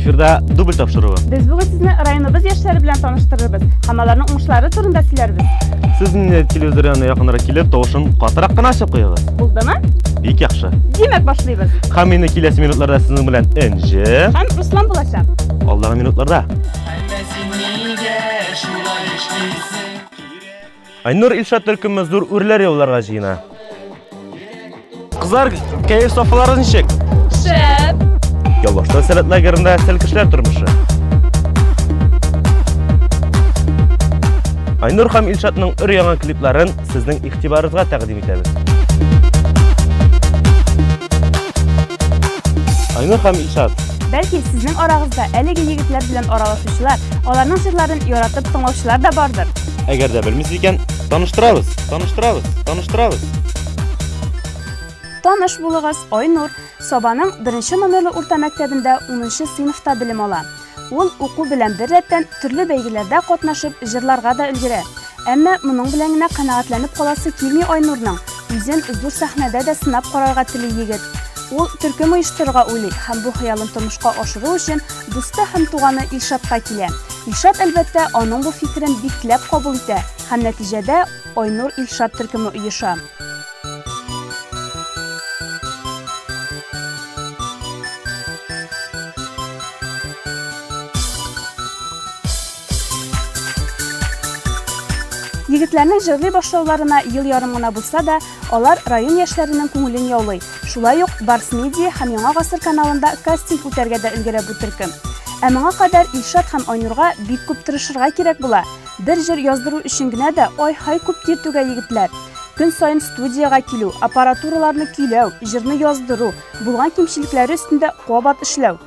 Эфирда дубль тапшыруы. Без бүген сезне районыбыз яшьләре белән таныштырырбыз һәм аларның уңышлары турында сөйләрбез. Сез инде телевизор янына якынрак килеп, тавышын катырак кына ачып куегыз. Булдымы? Бик яхшы. Димәк, башлыйбыз. Һәм инде киләсе минутларда сезнең белән Энҗе һәм Руслан булачак. Алдагы минутларда. Айнур Илшат төркеме зур үрләр яуларга җыена. Кызлар, кәеф сафалары ничек? Шәп! Яллашта сәләт лагерында сәл кешеләр тормышы. Айнур һәм Илшатның өр яңа клипларын сезнең игътибарыгызга тәкъдим итәбез. Айнур һәм Илшат Бәлки, сезнең арагызда әлеге егетләр белән аралашучылар, аларның җырларын яратып тыңлаучылар да бардыр. Әгәр дә белмисез икән, таныштырабыз, таныштырабыз, таныштырабыз. Таныш булыгыз, Айнур Сабаның беренче номерлы урта мәктәбендә 10 сыйныфта белем ала. Ул уку белән бер рәттән төрле бәйгеләрдә катнашып, җырларга да өлгерә. Әмма моның белән генә канәгатьләнеп каласы килми Айнурның, үзен зур сәхнәдә дә сынап карарга тели егет. Ул төркем оештырырга уйлый һәм бу хыялын тормышка ашыру өчен дусты һәм туганы Илшатка килә. Илшат, әлбәттә, аның бу фикерен бикләп кабул итә һәм нәтиҗәдә Айнур-Илшат төркеме оеша. Егетләрнең җырлый башлауларына ел ярым гына булса да, алар район яшьләренең күңелен яулый. Шулай ук Барс Медиа һәм Яңа гасыр каналында кастинг үтәргә дә өлгерә бу төркем. Ә моңа кадәр Илшат һәм Айнурга бик күп тырышырга кирәк була. Бер җыр яздыру өчен генә дә ай-һай күп тир түгә егетләр. Көн саен студиягә килү, аппаратураларны көйләү, җырны яздыру, булган кимчелекләре өстендә кабат эшләү.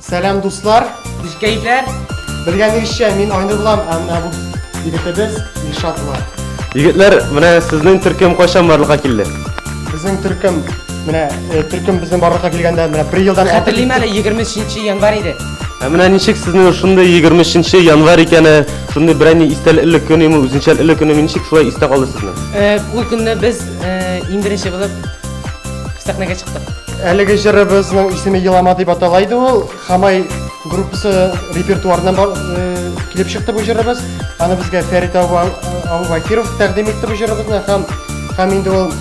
Сәлам дуслар! Низ кәйфләр? Белгәнегезчә, мин Айнур булам, ә менә бу егетебез Илшат була. Егетләр, менә сезнең төркем кайчан барлыкка килде? Безнең төркем, менә э, төркем безнең барлыкка килгәндә менә бер елдан Хәтерлим әле 23 январь иде. Ә менә ничек сезнең шундый 23 январь икәне, шундый берәни истәлекле көн име, үзенчәлекле көн име, ничек шулай истә калды сезнең? Э, Ул көнне без э, иң беренче булып сәхнәгә чыктык. Әлеге җырыбызның исеме Елама дип атала иде ул. Хамай группасы репертуарыннан э, килеп чыкты бу җырыбыз. Аны безгә Фәрит Абубакиров тәкъдим итте бу җырыбызны һәм һәм инде ул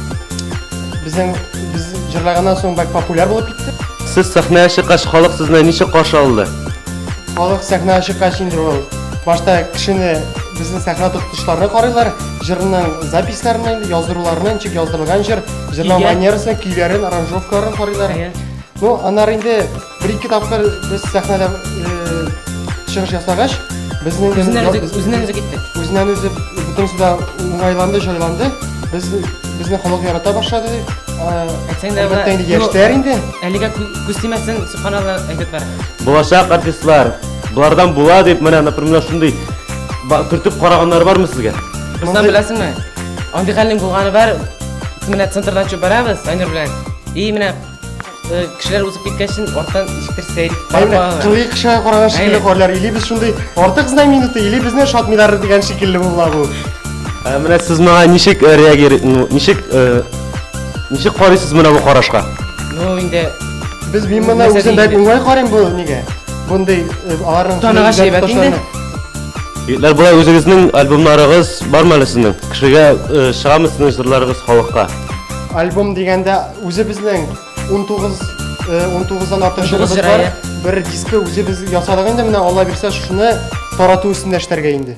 безнең без җырлаганнан соң бик популяр булып китте. Сез сәхнәгә чыккач, халык сезне ничек каршы алды? Халык сәхнәгә чыккач инде ул башта кешене безнең сәхнә тотышларына карыйлар, җырның записьләренә, яздыруларына, ничек яздырылган җыр, Җырлау Көйгә. манерасы, көйләрен, аранжировкаларын карыйлар. Әйе. Ну, аннары инде бер-ике тапкыр без сәхнәдә э, чыгыш ясагач, безнең Үзеннән ял- үзе- үзеннән үзе китте. үзеннән үзе бөтенесе дә уңайланды, җайланды. Без безне халык ярата башлады. Э, Әйтсәң дә, Әлбәттә инде ну, яшьләр инде. Әлегә кү- күз тимәсен, субханалла әйтеп бара. Булачак артистлар. Болардан була дип менә, например, шундый ба- төртеп караганнар бармы сезгә? Руслан беләсеңме? Андый хәлнең булганы бар, Менә центрдан чөп барабыз, Санер белән. И менә э, кешеләр узып киткәчен артан ишектер сәйр. Әйме, кырый кешегә караган шикелле карлар, или без шундый артык знай минуты, или безне шатмилар дигән шикелле була бу. Ә менә сез моңа ничек э, реагир, ну, ничек э, ничек карыйсыз менә бу карашка? Ну, инде без мин моны үзем бәк уңай карыйм бу нигә? Бундый аларның таныгаш әйбәт инде. Егетләр, болай үзегезнең альбомнарыгыз бармы әле сезнең? Кешегә чыгамы сезнең җырларыгыз халыкка? Альбом дигәндә үзебезнең 19 19-дан артык җырыбыз бар. Бер дискы үзебез ясадык инде, менә Алла бирсә, шуны тарату өстендә эшләргә инде.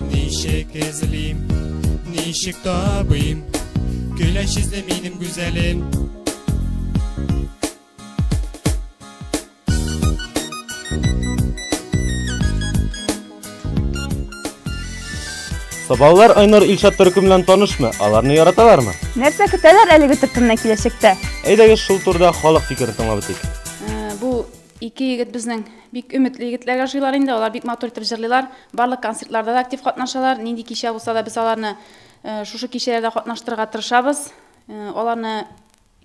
Ничек эзлим, ничек табыйм, Көләч эзле минем гүзәлем. Сабалар Айнур Илшат төркем белән танышмы? Аларны яраталармы? Нәрсә көтәләр әлеге төркемнән киләчәктә? Әйдәгез шул турыда халык фикерен тыңлап үтик. Ә, Бу ике егет безнең Бик өметле егетләр яшилар инде, алар бик матур итеп җырлыйлар, барлык концертларда да актив катнашалар, нинди кичә булса да без аларны шушы кичәләрдә катнаштырырга тырышабыз. Аларны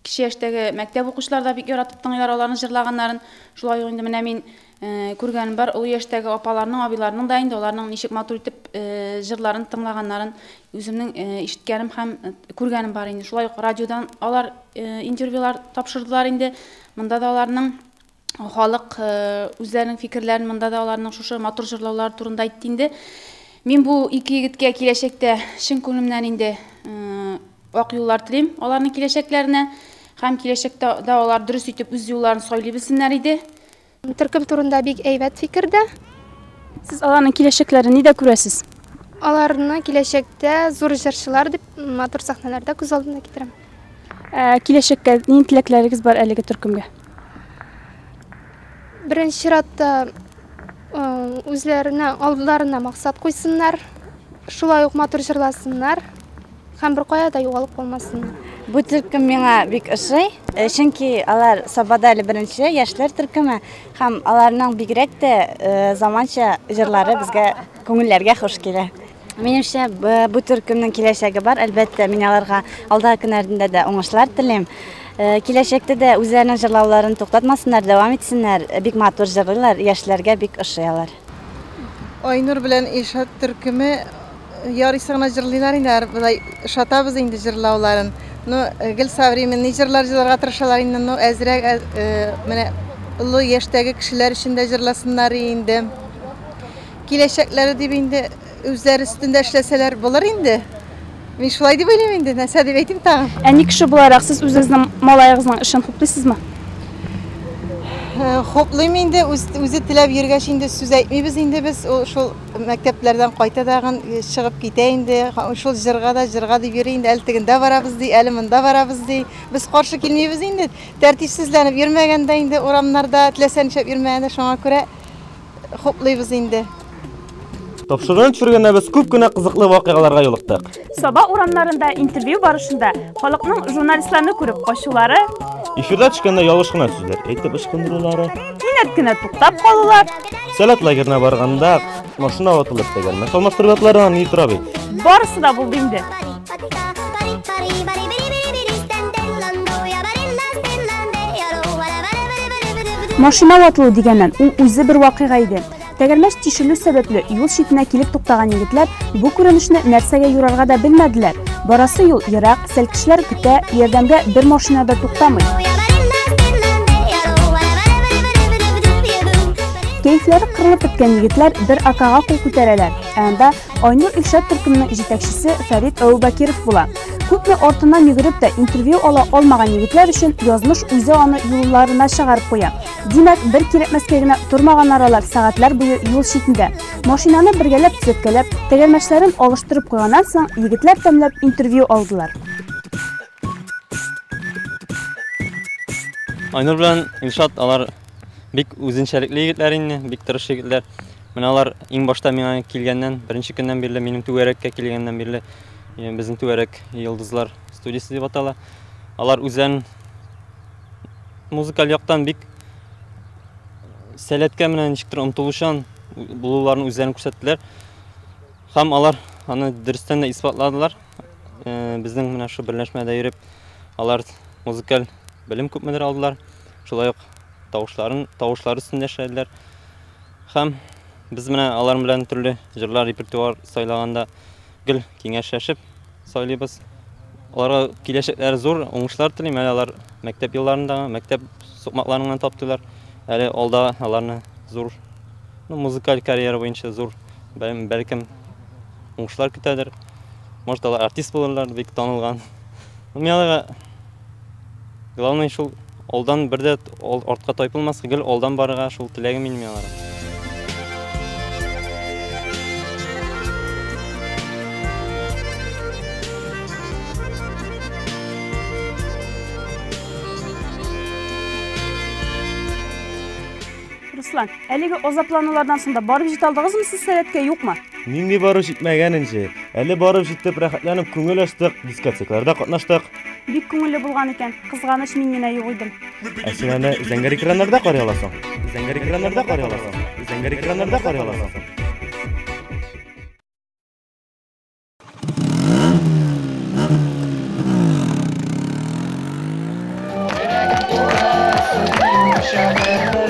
кече яшьтәге мәктәп укучылары да бик яратып тыңлыйлар аларның җырлаганнарын. Шулай ук инде менә мин күргәнем бар, олы яшьтәге апаларның, абыйларның да инде аларның ничек матур итеп җырларын тыңлаганнарын үземнең ишеткәнем һәм күргәнем бар инде. Шулай ук радиодан алар интервьюлар тапшырдылар инде. Монда да аларның халык үзләренең фикерләрен монда да аларның шушы матур җырлаулары турында әйтте инде. Мин бу ике егеткә киләчәктә чын күңелемнән инде ак юллар телим аларның киләчәкләренә һәм киләчәктә дә алар дөрес итеп үз юлларын сайлый белсеннәр иде. Төркем турында бик әйбәт фикер дә. Сез аларның киләчәкләрен нидә күрәсез? Аларны киләчәктә зур җырчылар дип матур сәхнәләрдә күз алдына китерәм. Ә киләчәккә нинди теләкләрегез бар әлеге төркемгә? Беренче чиратта үзләренә алдарына максат куйсыннар, шулай ук матур җырласыннар һәм беркая да югалып калмасыннар. Бу төркем миңа бик ошый, э, чөнки алар Сабада әле беренче яшьләр төркеме һәм аларның бигрәк тә э, заманча җырлары безгә күңелләргә хуш килә. Минемчә, бу төркемнең киләчәге бар. Әлбәттә, мин аларга алдагы көннәрендә дә уңышлар телим. Э, киләчәктә дә үзләренең җырлауларын туктатмасыннар, дәвам итсеннәр. Э, бик матур җырлыйлар, яшьләргә бик ошый алар. Айнур белән Ильшат төркеме э, ярыйсы гына җырлыйлар инде, болай шатабыз инде җырлауларын. Ну, гел современный җырлар җырларга тырышалар инде, ну, әзрәк менә олы яшьтәге кешеләр өчен дә җырласыннар инде. Киләчәкләре дип инде үзләре өстендә эшләсәләр булыр инде. Мин шулай дип уйлыйм инде, нәрсә дип әйтим тагын. Әни кеше буларак сез үзегезнең малаегызның эшен хуплыйсызмы? Э, хуплыйм инде, үзе теләп йөргәч инде сүз әйтмибез инде без. Ул шул мәктәпләрдән кайта дагын э, чыгып китә инде. Шул җырга да җырга дип йөри инде. Әле тегендә барабыз ди, әле монда барабыз ди. Без каршы килмибез инде. Тәртипсезләнеп йөрмәгәндә инде урамнарда, теләсә нишләп йөрмәгәндә шуңа күрә Хуплыйбыз инде. Тапшырган төшергәндә без күп кенә кызыклы вакыйгаларга юлыктык. Саба урамнарында интервью барышында халыкның журналистларны күреп качулары, Эфирда төшкәндә ялгыш кына сүзләр әйтеп ычкындырулары, кинәт кенә туктап калулар, Сәләт лагерына барганда машина ватылып тәгәрмәс алмаштыру ватларына ни тора бит. барысы да булды инде. Машина ватылу дигәннән, ул үзе бер вакыйга иде. Тәгәрмәч тишелү сәбәпле юл читенә килеп туктаган егетләр бу күренешне нәрсәгә юрарга да белмәделәр. Барасы юл ерак, сәлкешләр көтә, ярдәмгә бер машина да туктамый. Кәйфләре кырылып беткән егетләр бер акага кул күтәрәләр, ә анда Айнур Илшат төркемнең җитәкчесе Фәрит Әүбәкиров була. Күпме артыннан йөгереп тә интервью ала алмаган егетләр өчен язмыш үзе аны юлларына чыгарып куя. Димәк, бер кирәкмәскә генә тормаганнар алар сәгатьләр буе юл читендә. Машинаны бергәләп төзәткәләп, тәгәрмәчләрен алыштырып куйганнан соң, егетләр тәмләп интервью алдылар. Айнур белән Илшат алар бик үзенчәлекле егетләр инде, бик тырыш егетләр. Менә алар иң башта миңа килгәннән, беренче көннән бирле, минем түгәрәккә килгәннән бирле, э, безнең түгәрәк йолдызлар студиясе дип атала. Алар үзләрен музыкаль яктан бик сәләткә менә ничектер омтылучан булуларын үзләрен күрсәттеләр. Һәм алар аны дөрестән дә исбатладылар. Э, Безнең менә шул берләшмәдә йөреп, алар музыкаль белем күпмедер алдылар. Шулай ук тавышларын, тавышлар өстендә эшләделәр. Һәм без менә алар белән төрле җырлар репертуар сайлаганда гел киңәшләшеп сайлыйбыз. Аларга киләчәкләре зур, уңышлар телим. Әле алар мәктәп елларында, мәктәп сукмакларыннан таптылар. Әле алда аларны зур ну, музыкаль карьера буенча зур бәлкем уңышлар көтәдер. Может, алар артист булырлар, бик танылган. Мин аларга Главный шул алдан бер дә артка тайпылмаска, гел алдан барырга шул теләгем минем аларга. Руслан, әлеге азапланулардан соң да барып җит алдыгызмы сез сәләткә, юкмы? Нинди барып җитмәгән инде. Әле барып җитеп рәхәтләнеп күңел ачтык, дискотекаларда катнаштык. Бик күңелле булган икән. Кызганыч, мин генә юк идем. Ә син аны зәңгәр экраннарда карый аласың. Зәңгәр экраннарда карый аласың. Зәңгәр экраннарда карый аласың.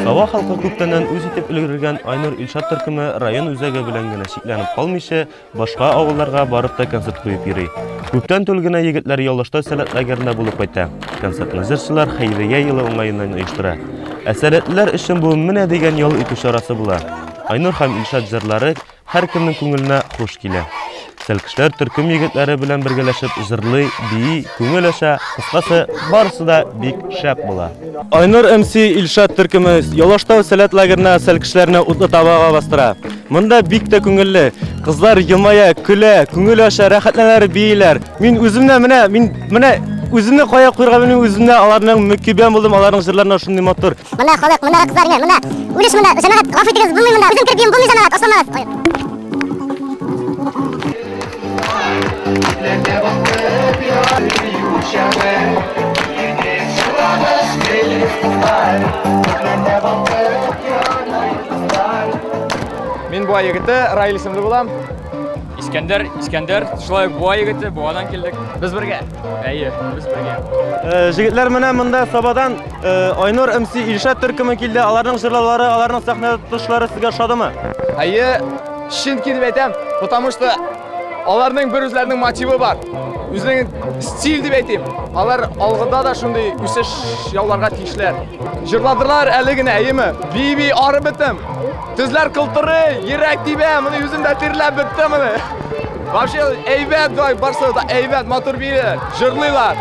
Сава халкы күптәннән үз итеп өлгергән Айнур Илшат төркеме район үзәге белән генә чикләнеп калмыйча, башка авылларга барып та концерт куеп йөри. Күптән түгел генә егетләр Ялышта сәләт лагерында булып кайта. Концертны җырчылар Хәйрия елы уңаеннан оештыра. Ә сәләтлеләр өчен бу менә дигән ял итү чарасы була. Айнур һәм Илшат җырлары Һәркемнең күңеленә хуш килә. Тәлкешләр төркем егетләре белән бергәләшеп җырлый, бии, күңел ача, кыскасы, барысы да бик шәп була. Айнур МС Илшат төркеме Ялаштау сәләт лагерына сәлкешләрне утлы табага бастыра. Монда бик тә күңелле. Кызлар елмая, көлә, күңел ача, рәхәтләнәр, бииләр. Мин үземне менә мин менә үземне кая куярга белмим, үземне аларның мөкибән булдым, аларның җырларына шундый матур. Менә халык, менә кызлар, менә, менә. Үлеш менә, җәмәгать, гафу итегез, булмый менә. Үзем кертим, булмый җәмәгать, асламагыз. Ой. Мин бу егете Раил исемле булам. Искәндәр, Искәндәр, шулай буа егете, буадан килдек. Без бергә. Әйе, без бергә. Э, Җегетләр менә монда Сабадан э, Айнур МС Илшат төркеме килде. Аларның җырлаулары, аларның сәхнә тотышлары сезгә ошадымы? Әйе, чын килеп әйтәм, потому что аларның бер үзләренең мотивы бар. Үзенең стиль дип әйтим. Алар алгыда да шундый үсеш яуларга тиешләр. Җырладылар әле генә, әйеме? Биби арып бетем. Тезләр кылтыры, йөрәк тибә, моны үзем дә тирләп бетте моны. Вообще, әйбәт бай, барсы да әйбәт, матур бирелер, жырлыйлар.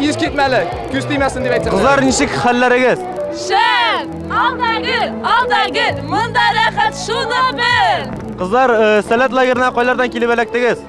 Ис китмәле, күз тимәсен дип әйтсәм. Кызлар, ничек хәлләрегез? Шәп! Алда гел, алда гел, монда рәхәт, шуны бел! Кызлар, э, сәләт лагерына кайлардан килеп эләктегез?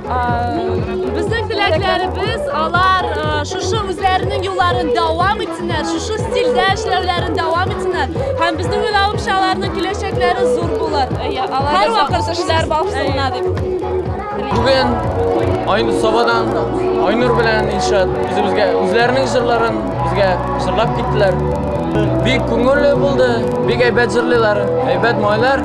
Безнең теләкләребез алар шушы үзләренең юлларын дәвам итсеннәр, шушы стильдә эшләүләрен дәвам итсеннәр. Һәм безнең уйлавымча аларның киләчәкләре зур булыр. Һәр вакыт эшләр башлана дип. Бүген Айнур Сабадан Айнур белән Илшат үзебезгә үзләренең җырларын безгә җырлап киттеләр. Бик күңелле булды, бик әйбәт җырлыйлар, әйбәт малайлар.